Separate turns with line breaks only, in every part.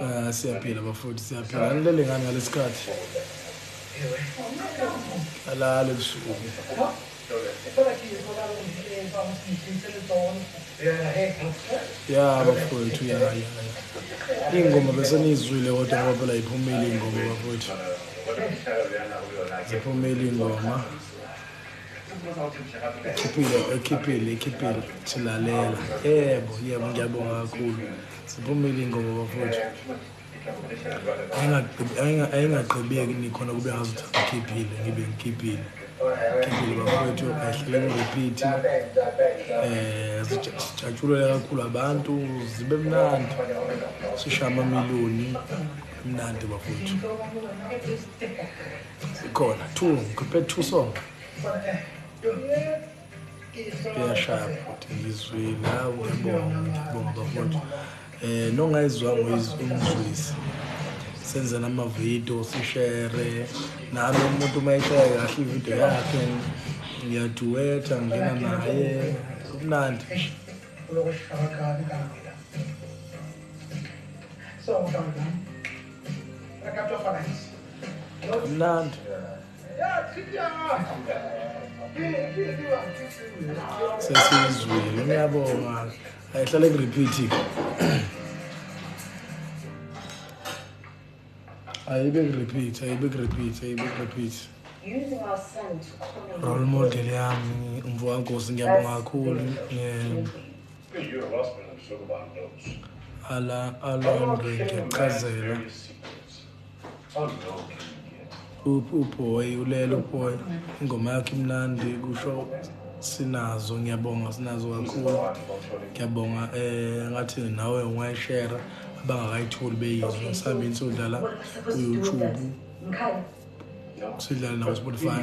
Ah siyaphila bafowethu siyaphila alele ngani ngalesikhathi alale busuku ya bafowethu ya ya ingoma bese nizwile kodwa ngoba phela iphumile ingoma bafowethu ziphumile ingoma ekhiphile ekhiphile ekhiphile silalela yebo yebo ngiyabonga kakhulu siphumile ingoma bafowethu ayingagqibeki nikhona kube ngazi ukuthi ngikhiphile ngibe ngikhiphile ngikhiphile bafowethu ayihlele ngiriphithi um sijatshulele kakhulu abantu zibe mnandi sishaye amamiliyoni mnandi bafowethu ikhona two ngikhiphe two song iyashaya futhi ngizwile hawu ngibonga ngibonga bafundi eh nongayizwanga uyizwisa senze namavidiyo sishere nami umuntu uma eshaya kahle ividiyo yakhe ngiyaduwetha ngingena naye kumnandi nje Mnandi. Sesizwile ngiyabonga. Ayihlale ku repeat. Ayibe ku repeat, ayibe ku repeat, ayibe ku repeat. Using our son to call. Role model yami umfowabo Nkosi ngiyabonga kakhulu. Yeah. Ala alande ngiyachazela. Uboy ulelo boy ingoma yakhe imnandi kusho sinazo ngiyabonga sinazo kakhulu ngiyabonga eh ngathi nawe ungayishare abangakayitholi beyizwa ngisambe insudla la ku YouTube sidlala nawo Spotify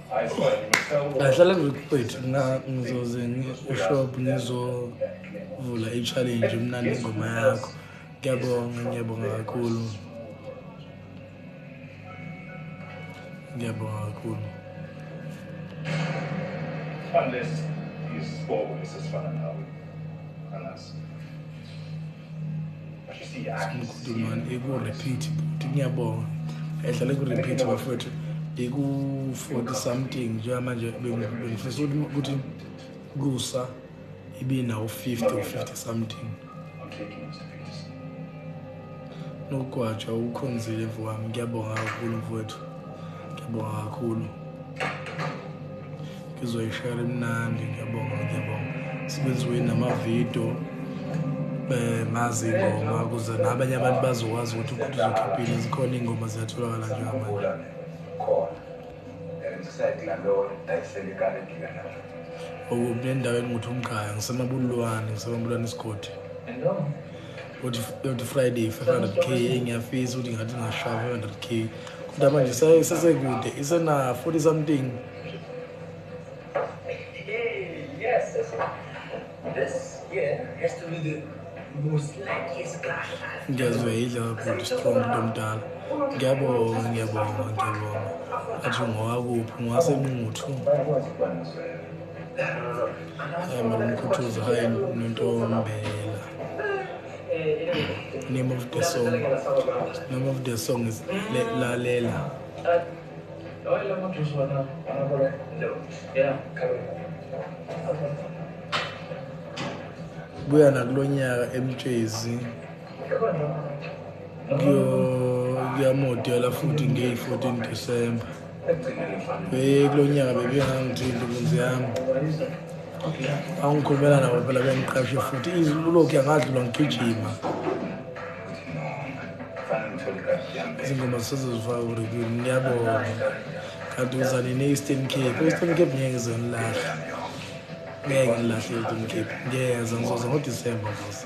ahlala ngikuqethi mna ngizoze eshop ngizovula i-challenge mnandi ingoma yakho ngiyabonga ngiyabonga kakhulu ngiyabonga
kakhulu unless isibongo esesifana nawe iku-repeat
bhuti ngiyabonga edlale ku-repeat bafowethu iku-forty something njengamanje bengifisa ukuthi kusa ibinawo-fifty or fifty something nokugwaja ukukhonzile mfo wami ngiyabonga kakhulu mfowethu ngiyabonga kakhulu ngizoyishayela emnandi ngiyabonga ngiyabonga sibenziwe namavidiyo um ngazi ingoma kuze nabanye abantu bazokwazi ukuthi ukuthi uzokhiphile zikhona iy'ngoma ziyatholakala njengamanje okuphi nendaweni ngithi umkhaya ngisemabulwane ngisemabulwane isigodi yoti friday 500 k engiyafisa ukuthi ngathi ngashaya 500 k kodwa manje isesekude isena 40 something
ngiyazweyidla
kakhulu strong into omdala ngiyabonga ngiyabonga ngiyabonga athi ngowakuphi ngowasenquthu hayi mara umkhuthuza hayi nontombela name of the song name of the song is lalela buya nakulo nyaka emtshezi kuyamodela futhi ngeyi-14 december Eh kulo nyaka bebengangithindi kunzi yami. Angikhulumela nabo phela bengiqashe futhi izilokhu yangadlula ngigijima. Izingoma sezizifaka kureview ngiyabonga. Kanti uzani ne-Eastern Cape. Eastern Cape ngeke ngize ngilahle. Ngeke ngilahle e-Eastern Cape. Ngiyeza ngizoza ngoDisemba futhi.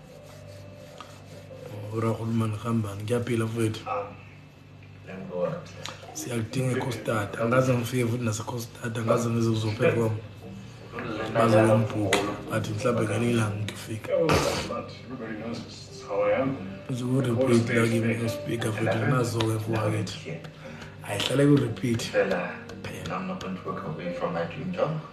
urahulumani hambani ngiyaphila mfowethu siyakudinga ecostad angaze ngifike futhi nasecostad angaze ngize kuzoperform baze bembhuke but mhlawumbe ngelinye ilanga ngifika
nje ku-repeat
lakimi espeaker futhi nginazo-ke fuwakithi ayihlale ku-repeat phela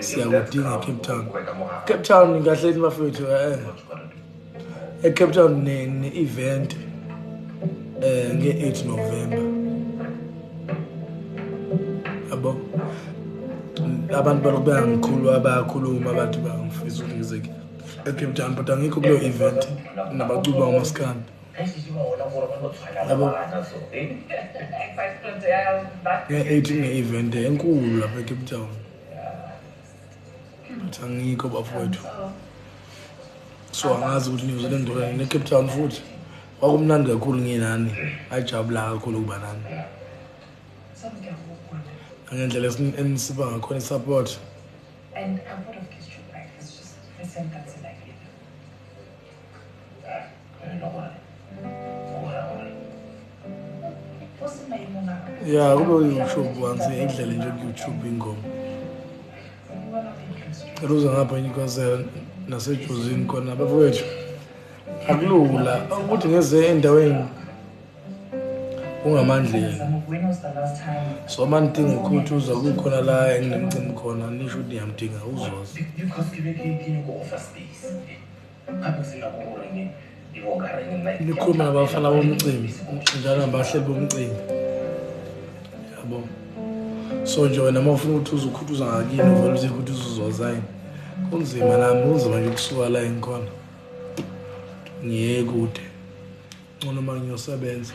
siyakudinga ecape town cape town kahleni bafethu eh. ecape town ne-event um nge-8 november yabo abantu balokhu beyangikhulu abayakhuluma abantu bangifisa ukuthi ngizeke ecape town but angikho kuleyo event nabacuba umaskandi yabo nge-eight nge-event enkulu lapha ecape town ukuthi angikho bafowethu so angazi ukuthi niyoze nendolani necape town futhi kwakumnandi kakhulu nginani ajabula kakhulu ukuba nani ngendlela enisiba ngakhona i-support
ya kube uyoutube
once idlale nje kuyoutube ingoma cela uze ngapha inyukazela nasejozini khona abafowethu akulula ukuthi ngeze endaweni ungamandleni
so uma nidinga
ukuthi uza kukhona la enginemcimi khona nisho ukuthi niyamdinga uzoza likhuluma nabafana bomcimbi njalo nabahleli bomcimbi yabo so nje wena uma ufuna ukuthi uzukhuthuza ngakini uvele uthi ukuthi uzuzozayini kunzima nami kunzima nje ukusuka la engikhona ngiye kude ncono uma ngiyosebenza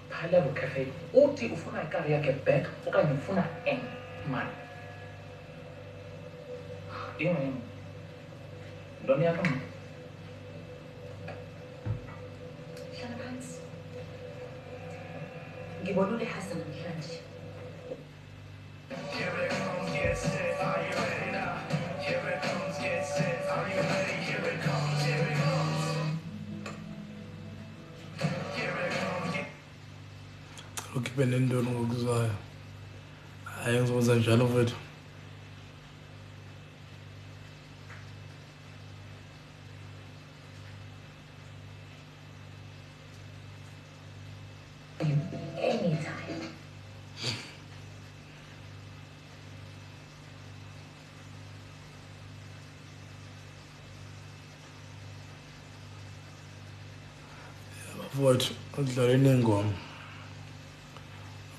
Phalelo Cafe uthi ufuna ikar yakhe back okanye ufuna eng mali. Inga yini? Ntoni yakho mna?
Hlala phansi. Ngibona ulehasa namhlanje.
ukhiphe nendoni ngokuzwayo hayi ngizokwenza njalo mfethu Mfowethu udlale nengoma.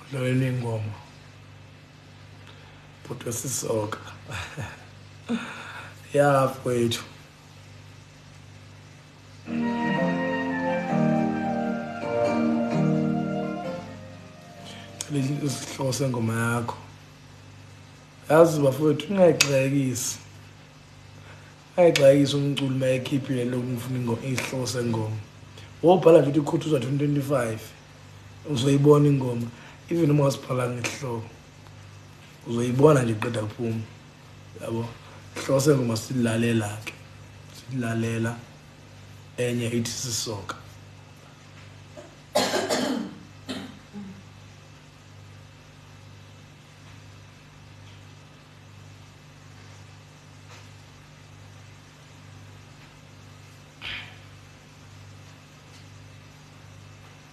Udlale nengoma. Bhuti wesisoka. Ya mfowethu. isihloko sengoma yakho yazi bafowethu ungayixhayekisi ayixhayekisi umculo uma ekhiphile lokhu ngifuna isihloko sengoma wobhala nje ukuthi ikhuthuza 2025 uzoyibona ingoma even uma wasibhala ngesihloko uzoyibona nje qeda kuphuma yabo hlose ngoma silalela ke silalela enye ithi sisoka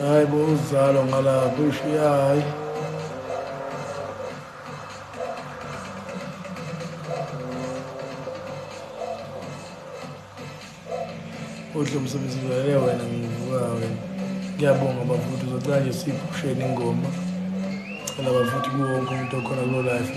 Hayi bo uzalo ngalapho ushiya hayi. Udle umsebenzi vele wena ngivuka wena. Ngiyabonga bafuthi uzocela nje siphusheni ingoma. Cela bafuthi kuwonke umuntu okhona kulo life.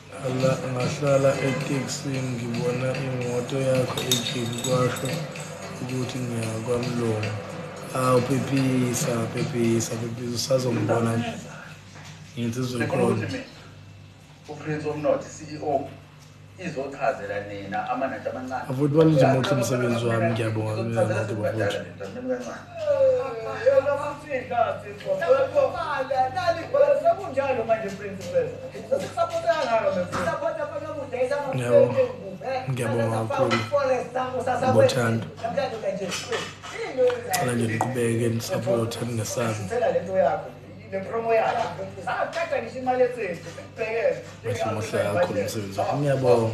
Nga, ngahlala etekisini ngibona imoto yakho ejini kwasho ukuthi ngiya kwamlungu awu phephisa phephisa phephisa usazongibona nje ngithi uzokhona uprince
omnothi ceo izochazela nina amanatha amancane afuthi balunje muhle
umsebenzi wami ngiyabonga mina nathi bafuthi
ngiyabonga
kakhulu ngothando cela nje niqhubeke nisapothe ningesabi
bahle muhle kakhulu
umsebenzi wakho ngiyabonga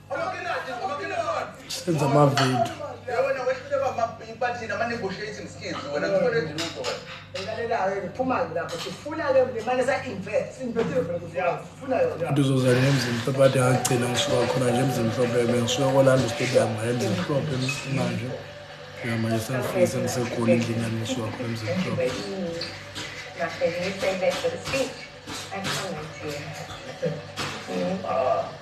senza amavidiyo
ndizozana emzimhlo
but agcina ngisuka khona nje emzimhlophe be ngisuka kolanda stadium emzimhlophe manje manje sengifike sengisegoli endlini yami ngisuka khona emzimhlophe Thank you.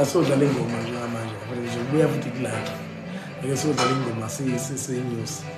asodlala ingoma njengamanje kubuya futhi kulakhe ngeke sodlala ingoma siyinyusi